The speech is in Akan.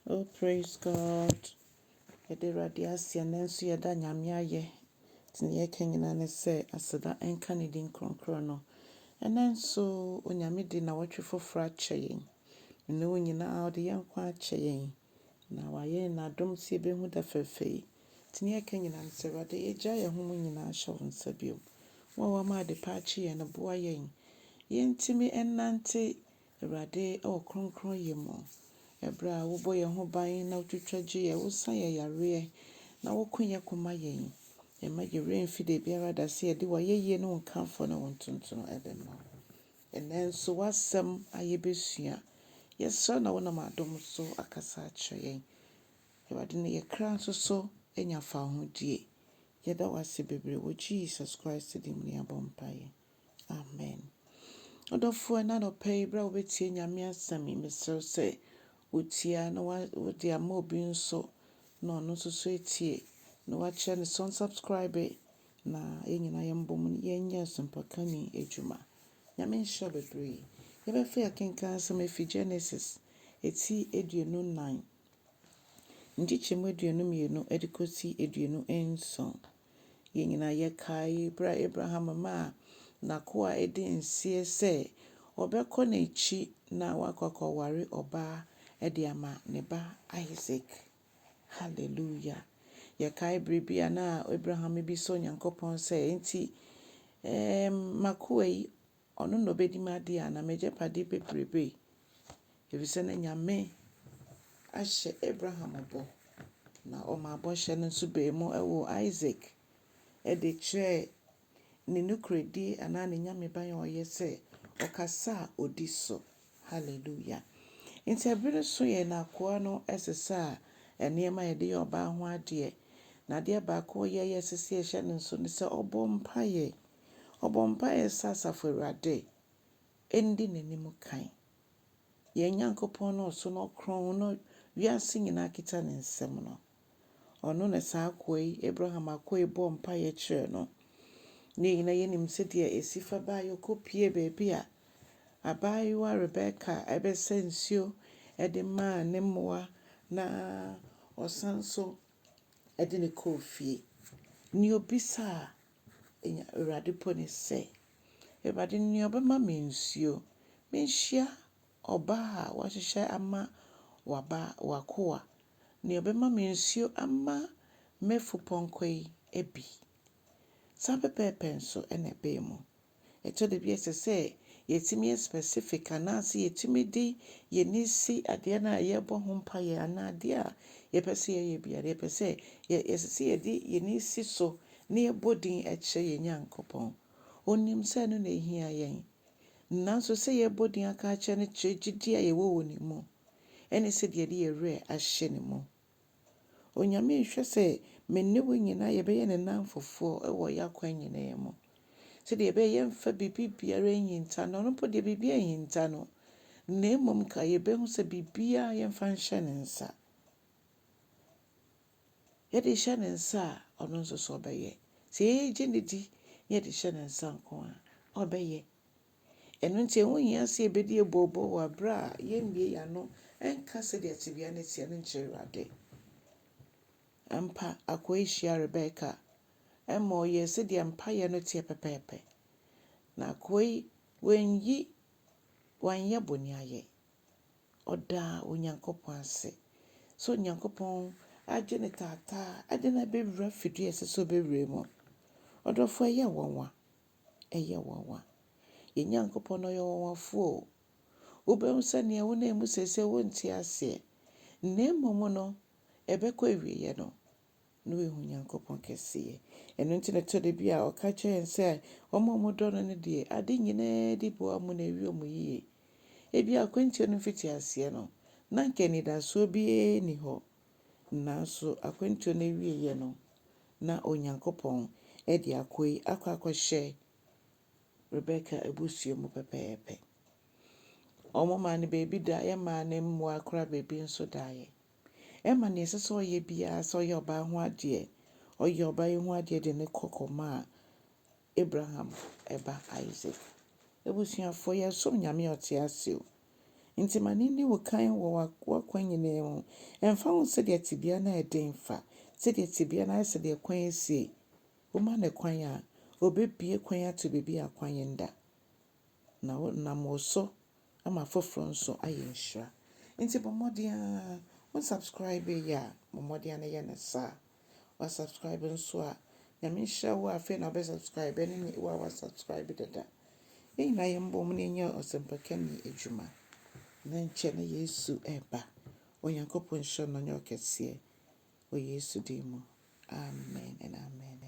Oh praise God yɛda awurade aseɛ nɛ nso yɛda nyame ayɛ nti neɛ yɛka nyinaa ne sɛ aseda nka ne din kronkron no ɛnɛ nso onyame de nawɔtwe foforɔ akyɛ yɛn mene wo nyinaa ɔde yɛn nkwa akyɛ yɛn na wayɛ yɛn adom sɛ yɛbɛhu da fɛfɛ yi nti neɛ yɛka nyinaa ne sɛ awurade yɛgya yɛn ho mu nyinaa hyɛ wo nsa bio wo a wama ade pa akye yɛn no boa yɛn yɛntumi ɛnante Awurade, wɔ kronkronyɛ mu, ɛberɛ a Wobɔ yɛn ho ban na Wotwitwa gye yɛn, Wosa yɛn yareɛ, na Woko yɛn ko ma yɛn. Yɛn mma yɛn werɛ mfi dabiara da sɛ yɛde W'ayɛyie ne Wo nkamfoɔ ne Wo ntontono bɛma Wo. Ɛnnɛ nso W'asɛm a yɛbɛsua, yɛsrɛ na Wonam adom so akasa akyerɛ yɛn. Awurade, na yɛn kra nso so anya fawohodie. Yɛda Wo ase bebree, wɔ Jesus Christ din mu na yɛabɔ mpaeɛ. Amen. Ɔdɔfoɔ ɛna nɔpɛ yi berɛ a wobɛtie Nyame asɛm yi mesrɛ sɛ wotia na wode ama obi nso na ɔno nso so atie na wakyerɛ ne so subscribe na yɛn nyinaa yɛn mbɔ mu no yɛnyɛ asɛmpaka ni adwuma. Nyame nhyira bebree. Yɛbɛfɛ akenkan asɛm efi Genesis eti aduonu nan nkyekyɛmu aduonu mmienu ɛde kɔsi aduonu nson. Yɛn nyinaa yɛkae bere a Abraham maa n'akoa a edi nseɛ sɛ ɔbɛkɔ n'akyi na wakɔ akɔware ɔbaa de ama ne ba Isak. Haleluya! Yɛkae bere bi a na Abraham bisa Onyankopɔn sɛ, Enti, ɛɛ, m'akoa yi, Ɔno na ɔbɛdi m'adeɛ anaa m'agyapadeɛ bebrebe, ɛfiri sɛ na Nyame ahyɛ Abraham bɔ, na ɔmaa bɔhyɛ no nso baa mu woo Isak de kyerɛɛ ne nokorɛdie anaa ne Nyameban a ɔyɛ sɛ ɔkasa a ɔdi so. Hallelujah. Nti ɛberɛ nso yɛn akoa no sesa nneɛma a yɛde yɛ ɔbaa ho adeɛ, na adeɛ baako a ɔyɛ a ɛsɛ sɛ yɛhyɛ no nso ne sɛ ɔbɔ mpaeɛ. Ɔbɔ mpaeɛ sɛ Asafo Awurade ndi n'anim kan. Yɛn Nyankopɔn no ɔso na ɔkorɔn na wiase nyinaa kita ne nsam no, ɔno na saa akoa yi, Abraham akoa yi bɔɔ mpaeɛ kyerɛɛ no. Ne yɛn nyinaa yɛnim sɛdeɛ ɛsi fa baa yi, ɔkɔpuee baabi a abaayewa Rebeka bɛsa nsuo de maa ne mmoa na ɔsan nso de no kɔɔ fie. Nea ɔbisaa Enya Awurade po ne sɛ. Awurade nea ɔbɛma me nsuo. Menhyia ɔbaa a wahyehyɛ ama waba w'akoa. Nea ɔbɛma me nsuo ama m'afupɔnkɔ yi bi. Saa pɛpɛɛpɛ nso na ɛbaa mu. Ɛtɔ da bi a ɛsɛ sɛ yɛtumi yɛ specific anaasɛ yɛtumi de yɛn ani si adeɛ no a yɛrebɔ ho mpaeɛ anaa adeɛ a yɛpɛ sɛ yɛyɛ biara. Yɛpɛ sɛ, yɛ, ɛsɛ sɛ yɛde yɛn ani si so na yɛbɔ din kyerɛ yɛn Nyankopɔn. Ɔnim sɛ ɛno na ɛhia yɛn. Nanso sɛ yɛrebɔ din aka akyerɛ no kyerɛ gyidie a yɛwɔ wɔ Ne mu, ɛne sɛdeɛ yɛde yɛn werɛ ahyɛ Ne mu. Onyame nhwɛ sɛ me ne wo nyinaa yɛbɛyɛ ne nnamfofoɔ wɔ yɛn akwan nyinaa mu. Sɛdeɛ ɛbɛyɛ yɛmfa biribi biara nhinta no, ɔno mpo deɛ biribiara nhinta no, na mmom ka yɛbɛhu sɛ biribiara yɛmfa nhyɛ ne nsa. Yɛde hyɛ ne nsa a, ɔno nso so ɔbɛyɛ. Sɛ yɛgye no di na yɛde hyɛ ne nsa nko a, ɔbɛyɛ. Ɛno nti, ɛho hia sɛ yebedi abooboo wɔ bere a yemmue yɛn ano nka sɛnea tebea no teɛ no nkyerɛ Awurade. Ampa, akoa hyiaa Rebeka ma ɔyɛɛ sɛnea mpae no teɛ pɛpɛɛpɛ, na akoa yi wanyi wanyɛ bɔne ayɛ. Ɔdaa Onyankopɔn ase sɛ Onyankopɔn agye ne taataa de no abɛwura fidua a ɛsɛ sɛ obewura mu. Ɔdɔfo, ɛyɛ nwanwa ɛyɛ nwanwa. Yɛn Nyankopɔn ɔyɛ ɔwanwafoɔ o. Wobɛhu sɛ nea wonam mu seesei wonte aseɛ, na mmom no ɛbɛkɔ awieɛ no na woahu Nyankopɔn kɛseɛ. Ɛno nti na ɛtɔ da bi a ɔka kyerɛ yɛn sɛ wɔn a wɔdɔ no no deɛ ade nyinaa di boa mu na ɛwie wɔn yie. Ebia akwantuo no mfitiaseɛ no, na anka anidasoɔ biara nni hɔ. Nanso akwantuo no awieeɛ no, na Onyankopɔn de akoa yi akɔ akɔhyɛ Rebeka abusua mu pɛpɛɛpɛ. Wɔmaa no baabi da, yɛmaa no mmoa koraa baabi nso daeɛ. Ɛma nea ɛsɛ sɛ ɔyɛ biara sɛ ɔyɛ ɔbaa ho adeɛ, ɔyɛ ɔbaa yi ho adeɛ de ne kɔ kɔmaa Abraham ba Isaac. Abusuafo, yɛsom Nyame a ɔte ase o. Enti ma no nni wo kan wɔ w'akwan nyinaa mu. Ɛmfa ho sɛdeɛ tebea no ayɛ den fa, sɛdeɛ tebea no ayɛ, sɛdeɛ kwan asie. Woma no kwan a, ɔbɛbue kwan ato baabi a kwan nda, na nam wo so ama afoforɔ nso ayɛ nhyira. Enti bɔ mmɔden ara, wo subscribe yɛ a, bɔ mmɔden ara na yɛ no saa. wa subscribe nso a Nyame nhyira wo a afei na wobɛ subscribe ɛne ne wo a wa subscribe dada. Yɛn nyinaa yɛn bɔ mu na yɛnyɛ ɔsɛmpakani adwuma. Na nkyɛ na Yesu ɛba. Onyankopɔn nhyira no nyɛ ɔkɛseɛ wɔ Yesu din mu. Amen and amen.